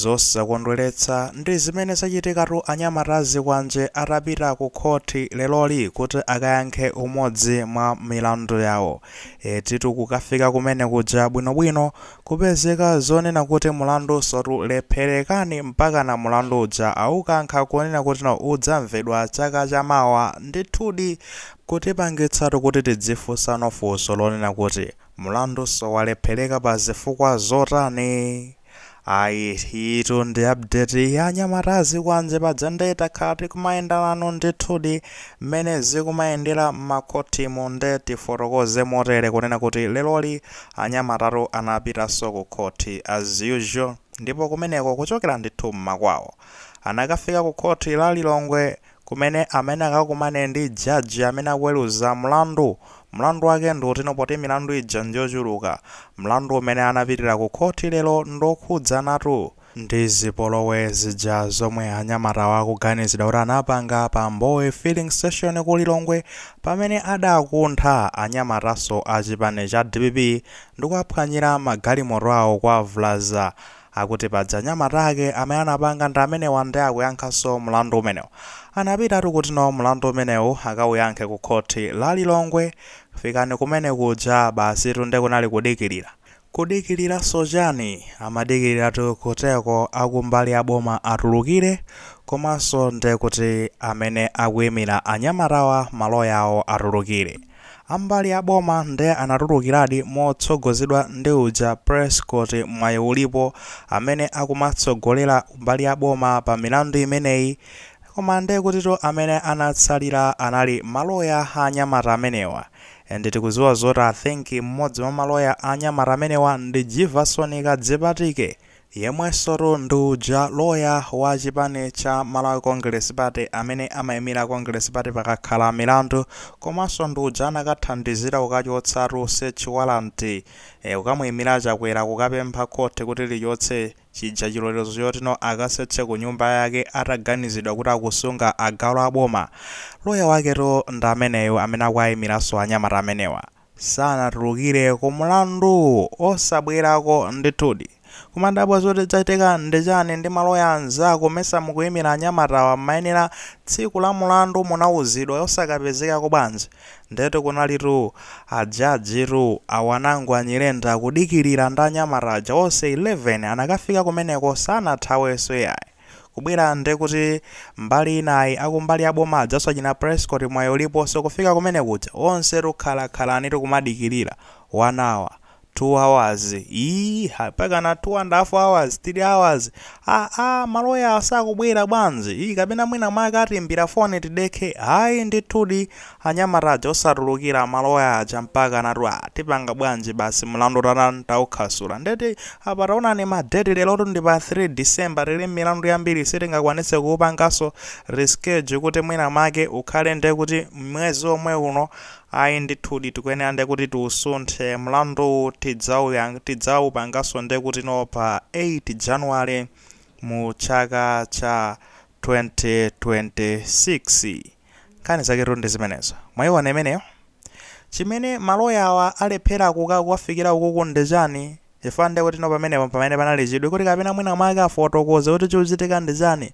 Zosakondweletsa ndi zimene zachitikatu anyamata azikwanje atapita ku khoti lelori kuti akayankhe umodzi mwa milandu yawo. Etitu kukafika kumene kuja bwino bwino kupezeka zonena kuti mulandunsotu lephelekani mpakana mulandu uja aukankha kunena kutino udzamvedwa chaka cha mawa ndithudi kutipangitsatu kuti tidzifunsa funso lonena kuti Mulandunso walepheleka pa zifukwa zotani? Ayi iyitu ndi update ya anyamata azikwanje paja nde takhala tikumayenda nanu ndithudi mmene zikumayendera mmakhothimu nde tifotokoze motere kunena kuti leroli anyamatatu anapitanso ku khothi as usual ndipo kumeneko kuchokera ndithu mmakwawo anakafika ku khothi la Lilongwe kumene amene akakumane ndi judge amene akuweluza mlandu mlandu wake ndi woti no poti milandu ija njochuluka mlandu umene anapitila ku khoti lero ndokhudzanatu ndi zipolowe zija zomwe anyamatawa akuganizidwa kuti anapanga pa mbowe filling station ku lilongwe pamene adakuntha anyamatanso achipani cha dpp ndikuwaphwanyila magalimoto awo kuwavulaza Akuti paja anyamata ake amene anapanga ndi amenewa nde akuyankhanso mlandu umenewu. Anapitatu kutino mlandu umenewu akauyankhe ku khothi la Lilongwe. Fikani kumene kuja basitu nde kunali kudikilira. Kudikiliranso chani? Amadikiliratu kutiko akumbali ya boma atulukire komanso nde kuti amene akuimira anyamatawa maloya awo atulukire. Ambali a boma nde anatulukiradi motsogozedwa ndi uja Prescott Mwayiulipo amene akumatsogolera mbali ya boma pa milandu imeneyi koma nde kutitu amene anatsalira anali maloya a anyamata amenewa and tikudziwa zoti I think mmodzi mwa maloya a anyamata amenewa ndi Jivason Kadzipatike Yemwensotu ndi uja loya wa chipani cha Malawi Congress Party amene amaimira a Congress Party pakakhala milandu komanso ndi uja anakathandizira kukachotsatu search warrant kukamuimira a Chakwera kukapempha court kuti lichotse chija chilolezo chotino akasearche kunyumba yake ataganizidwa kuti akusunga agalu aboma. Loya waketu ndi ameneyu amene akuaimiranso anyamata amenewa. sanatulukire ku mlandu osabwerako ndithudi kumadabwa zoti zachitika ndichani ndi maloya anzako mesa mukuimira anyamatawa mmayenera tsiku la mulandu munauzidwa osakapezekako bwanji ndetu kunalitu a judge tu a Wanangwa Nyirenda kudikilira ndi anyamata aja onse 11 anakafika kumeneko sanathawenso iyayi Kubwera ndekuti mbali inayi akumbali ya boma ajaso achina Prescott mwayi uliponso kufika kumene kuja onse tukhalakhalani tikumadikilira 1 hour 2 hours ii ha pakana 2 and half hours 3 hours aah maloya sakubwera bwanji ii kapena mwina mwake atiimbira foni tidekhe ayi ndithudi Anyamata aja osatulukira amaloya aja mpaka anati aa tipanga bwanji basi mlandu tatani taukhasula ndeti apa taonani ma date lerotu ndi pa 3 December tili mmilandu yambiri sitingakwanitse kuupanganso reschedule kuti mwina mwake ukhale nde kuti mmwezi omwe uno ayi ndithudi tikuyenera nde kuti tiusunthe mlanduwu tidzauyang tidzaupanganso nde kuti no pa 8 January mu chaka cha 2026. Nkhani zaketu ndi zimenezo. Mwaiona imeneyo? Chimene maloyawa alephera kukafikira ukuku ndi chani? Chifukwa nde kuti no pamenepo mpamene panali chidwi kuti kapena mwina mwake afotokoze kuti chikuchitika ndi chani.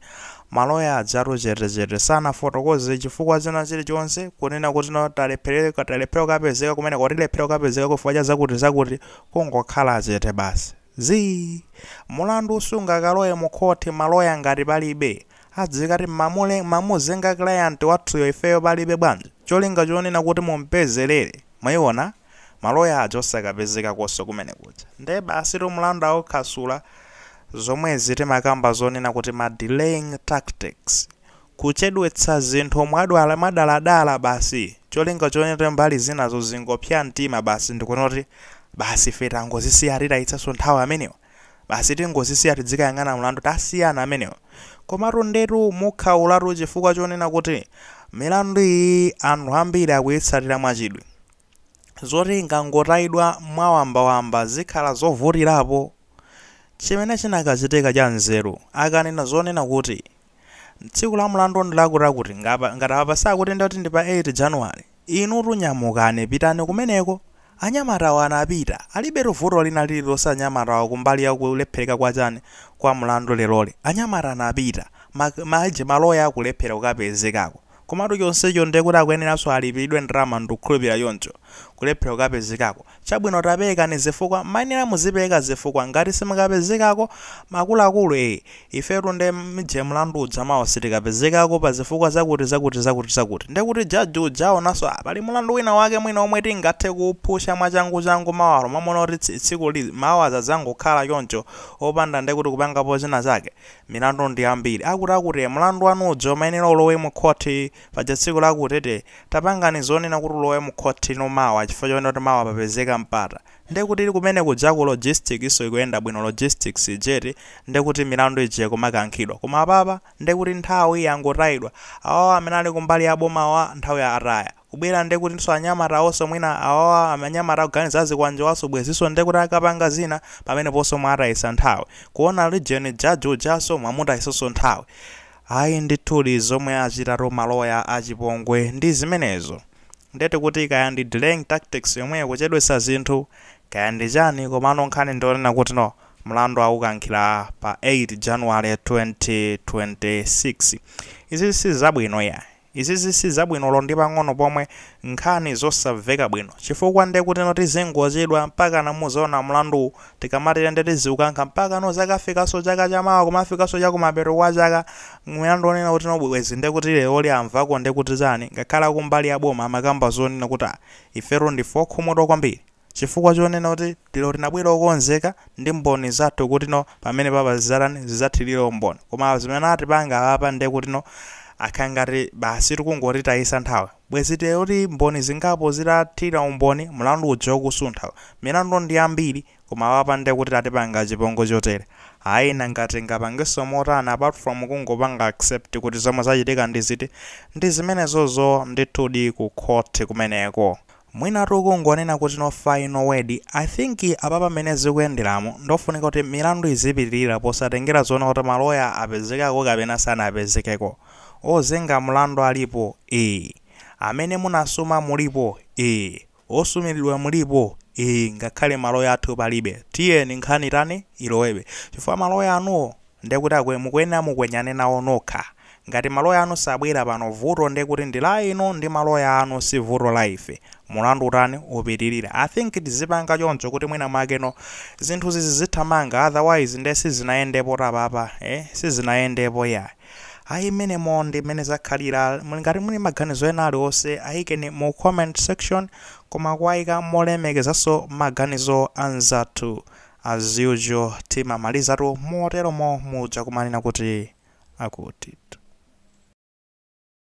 Maloya ajatu chete chete, sanafotokoze chifukwa china chili chonse kunena kuti no talephera, talephera kukapezeka kumeneko, tilephera kukapezekako chifukwa cha zakuti zakuti, kungokhala chete basi. Zii. Mulandu sungakalowe mu khoti maloya ngati palibe. Adzikati mamule mamuzenga client wathuyo ifeyo palibe bwanji? Cholinga chonena kuti mumpezelere. Mwayiona? Ma lawyer aja osakapezekakonso kumene kuja. Nde basitu mlandu aukhasula. Zomwezi timakamba zonena kuti ma delaying tactics. Kuchedwetsa zinthu mwadala mwadaladala basi. Cholinga chonena kuti mbali zinazo zingopsya mtima basi ndikunena kuti basi ife tangozisiya titayitsanso nthawi amenewa. Basi tingozisiya tidzikayang'ana mlandu tasiyana amenewa. Komatu ndetu mukhaulatu chifukwa chonena kuti milandu iyi anthu ambiri akuyitsatira mwachidwi. Zoti ingangotayidwa mwawambawamba zikhala zovutirapo. Chimene chinakachitika chanzeru akanena zonena kuti Tsiku la mlandu ndi lakutilakuti. Ngapa, ngati apa sakuti ndati ndi pa 8 January. Inutu nyamukani pitani kumeneko. Anyamatawo anapita. Alibetu vuto lina lililonse anyamatawa kumbali ya kulephereka kwa chani, kwa mlandu leroli. Anyamata anapita. Ma, ma aje, ma lawyer akulephera kukapezekako. Komatu chonsecho nde kuti akuyeneranso alipiridwe ndalama ndukhulupira choncho. Kulephera kukapezekako. Chabwino tapeekani zifukwa, mayenera muzipeeka zifukwa ngati simukapezekako, akuluakulu ee! Ifetu nde mje mlandu uja mawa sitikapezekako pa zifukwa zakuti zakuti zakuti zakuti. Nde kuti judge uja aonanso aah pali mlandu wina wake mwina omwe tingathe kuuphusha mwachangu changu mmalo momaona kuti tsi tsiku la mawa adzangokhala choncho opanda nde kuti kupangapo china chake. milandu ndi yambiri akuti akuti mlandu wanu uja umayenera ulowe mu khoti paja tsiku lakutilakuti tapangani zonena kuti ulowe mu khoti no mawa chifukwa chonena kuti mawa papezeka mpata nde kuti ili kumene kuja ku logistics ikuyenda bwino logistics ijeti nde kuti milandu ija kumakankhidwa koma apapa nde kuti nthawi yangotayidwa awawa amene ali kumbali ya bomawa nthawi ataya kubwera ndekutinso anyamatawonso mwina awawa anyamata akuganiza azikwanjewanso bwezinso ndekuti akapanga zina pameneponso mwatayitsa nthawi. Kuona even judge ujanso mwamutayitsanso nthawi. Ayi ndithudi zomwe achitatu ma lawyer achipongwe ndi zimenezo. Ndiye tikuti kaya ndi delaying tactics yomweyo kuchedwetsa zinthu kaya ndi chani komano nkhani ndi yonena kuti no mlandu awukankhira pa 8 January 2026. Izi sizabwino iyayi. Izizi sizabwino olo ndi pang'ono pomwe, nkhani zosamveka bwino. Chifukwa nde kutino tizingochedwa mpakana muzaona mlanduwu, tikamatere nde tiziukankha mpakana zakafikaso chaka cha mawa kumafikaso chakumapeto kwa chaka mlandu onena kutino bwezi nde kuti leroli amvako nde kuti chani ngakhale akumbali ya boma amakamba zonena kuti ah ifetu ndife okhumudwa kwambiri. Chifukwa chonena kuti lero tinabwera okonzeka ndi mboni zathu kuti no pamene papa zidzatani zidzathirire umboni koma zimene atipanga apapa ndiye kuti no akhala ngati basi tikungotitayisa nthawi bwezi ndiye kuti mboni zingapo zitathira umboni mlandu uja ukusuntha milandu ndi yambiri koma apapa ndiye kuti atipanga chipongwe chotere ayi nanga tingapangenso motani apart from kungopanga accept kuti zomwe zachitika ndi ziti ndi zimenezozo ndithudi ku khoti kumeneko Mwina tikungonena kuti no final word, I think apapa mmene zikuyenderamu ndofunika kuti milandu izipitirira posatengera zonena kuti ma lawyer apezekako kapena sanapezekeko, ozenga mlandu alipo ee, amene munasuma mulipo ee, osumilidwa mulipo ee ngakhale ma lawyer athu palibe tiyeni nkhani itani ilowebe chifukwa ma lawyer anuwo Nde kuti akwe mukuyenera mukwenyane nawo nokha. Ngati ma lawyer anu sanabwere pano vuto nde kuti ndi la inu ndi ma lawyer anu si vuto la ife. Mulandu utani upitilire. I think tizipanga choncho kuti mwina mwakeno zinthuzi zizithamanga otherwise nde sizinayendepotu apapa ee sizinayendepo iyayi. Ayi mmenemo ndi mmene zakhalira. Muli ngati muli maganizo ena aliwonse ayikeni mu comment section koma kuwayika molemekezanso maganizo anzathu As usual timamalizatu moteromo muja kumanena kuti akutitu.